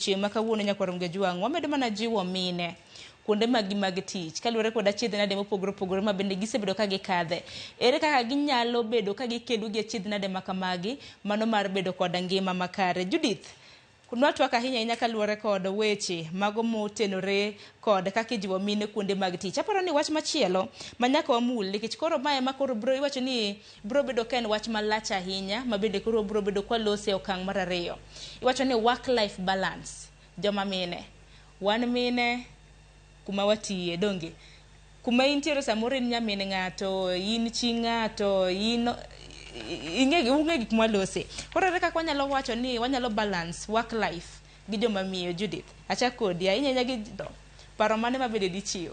Chieng' ma kawuono nyakwar Mgejwang' wamedo mana jiwo mine kuonde maggi mag tich kaluwore kod achiedh nade mopogore opogore ma bende gisebedo ka gikadhe. Ere kaka ginyalo bedo ka gikedo gi achiedh nade ma kamagi mano mar bedo koda ngima makare. Judith, nwa twak ahinya ahinya kaluwore kod weche mago motenore kod kaka ijiwo mine kuonde mag tich. Aparo ni wach machielo ma nyaka wamul nikech koro ma ema koro biro iwacho ni Biro bedo ka en wach malach ahinya ma bende koro wabiro bedo kwa lose e okang' mar ariyo. Iwacho ni work life balance. Joma mine. Wan mine kuma watiye, donge? Kuma intiere samoro in nyamin ng'ato, in chi ng'ato, in ing'e ung'e gik mwa lose. Koro ere kaka wanyalo wacho ni wanyalo balance work life gi joma miyo Judith. Achak kodi ahinya ahinya gi paro mane ma bende dichiw?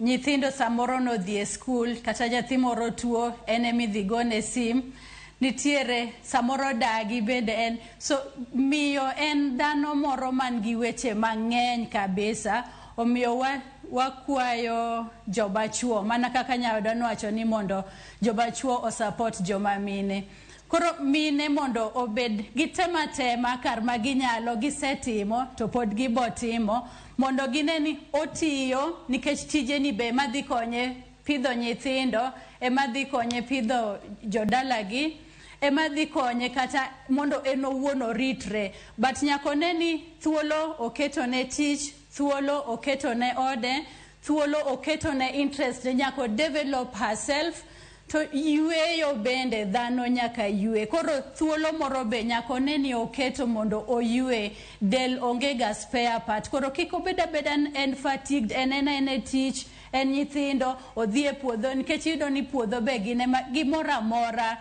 Nyithindo samoro nodhi e skul kata nyathi moro tuo en ema idhi gone sim. Nitiere samoro dagi bende en so miyo en dhano moro man gi weche mang'eny kabisa omiyo wa wakwayo joma chuo mana kaka nyaoda nowacho ni mondo joma chuo o support joma mine. Koro mine mondo obed gitema tema kar ma ginyalo gisetimo to pod gibotimo. Mondo gine ni otiyo nikech tijeni be ema dhi konye pidho nyithindo, ema dhi konye pidho jodalagi, ema dhi konye kata mondo en owuon oritre. But nyaka one ni thuolo oketo ne tich, thuolo oketo ne ode, thuolo oketo ne interest ne nyaka o develop herself. To yueyo bende dhano nyaka yue. Koro thuolo moro be nyaka one ni oketo mondo oyue. Del onge ga spare part. Koro kik obed abeda ni en fatigued, en en aena e tich, en nyithindo, odhi e puodho nikech iyudo ni puodho be gin ema, gimoro amora.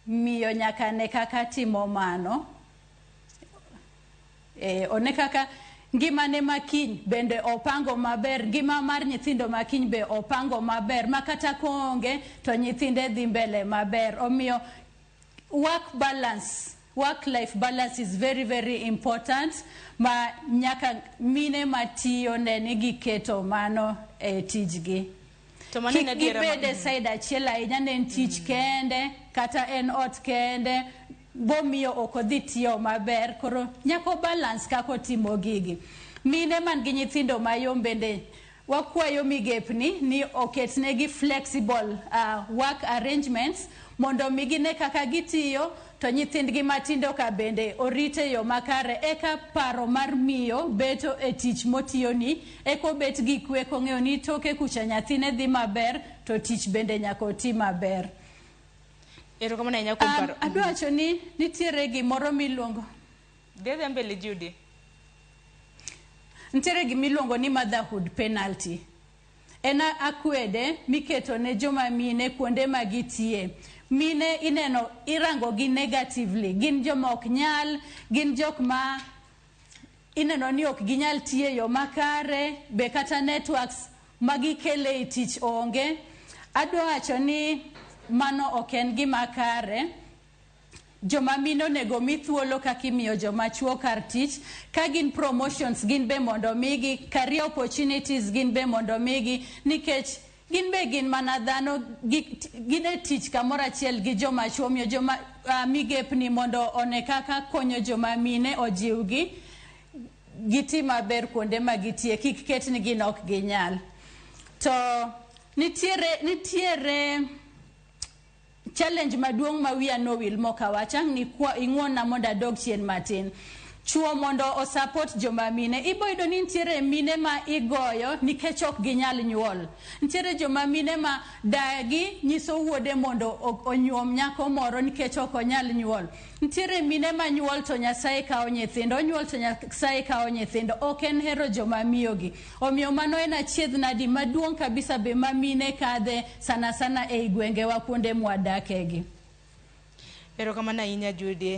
Miyo nyaka ne kaka timo mano e, one kaka ngimane makiny bende opango maber, ngima mar nyithindo makiny be opango maber ma kata koonge to nyithinde dhi mbele maber. Omiyo work balance work life balance is very very important ma nyaka mine matiyo ne ni giketo mano e tijgi. To mano en kik adiera gibed e said achiel ahinya ne en tich kende kata en ot kende bomiyo ok odhi tiyo maber koro nyako balance kako timo gigi mine man gi nyithindo mayom bende wakwayo migepni ni oketnegi flexible uh, work arrangements mondo mi gine kaka gitiyo to nyithindgi matindo ka bende orite yo makare eka paro mar miyo beto e tich motiyoni Eka obet gi kwe kong'eyo ni toke kucha nyathine dhi maber to tich bende nyaka oti maber. Erokamano ahinya kuom paro. Um, adwa wacho ni nitiere gimoro miluongo. Dedha mbele Judy. Nitiere gimiluongo ni motherhood penalty. En akwede miketo ne joma mine kuonde ma gitie. Mine ineno irango gi negatively. Gin joma ok nyal, gin jok ma ineno ni ok ginyal tiyo e yo makare be kata networks ma gikele i tich onge adwa wacho ni mano ok en gima kare joma mine onego mi thuolo kaka imiyo joma chuo kar tich ka gin promotions gin be mondo migi career opportunities gin be mondo migi nikech Gin be gin mana dhano, gin e tich kamoro achiel gi joma chwo. Omiyo joma uh, migepni mondo one kaka konyo joma mine ojiwgi giti maber kuonde ma gitie, kik ket ni gin ok ginyal. To nitiere nitiere Challenge maduong ma wiya nowil mokawacha ni kwa ing'wonna mondo adog chien matin. Chuo mondo o support joma mine. Iboyudo ni nitiere mine ma igoyo nikech ok ginyal nyuol. Nitiere joma mine ma dagi nyiso wuode mondo onyuom nyako moro nikech ok onyal nyuol. Nitiere mine ma nyuol to Nyasaye kawo nyithindo, onyuol to Nyasaye kawo nyithindo. Ok en hero joma miyo gi. Omiyo mano en achiedhnadi maduong' kabisa be ma mine kadhe sana sana ei gwengewa kuonde mwadakegi. Erokamano ahinya Judy.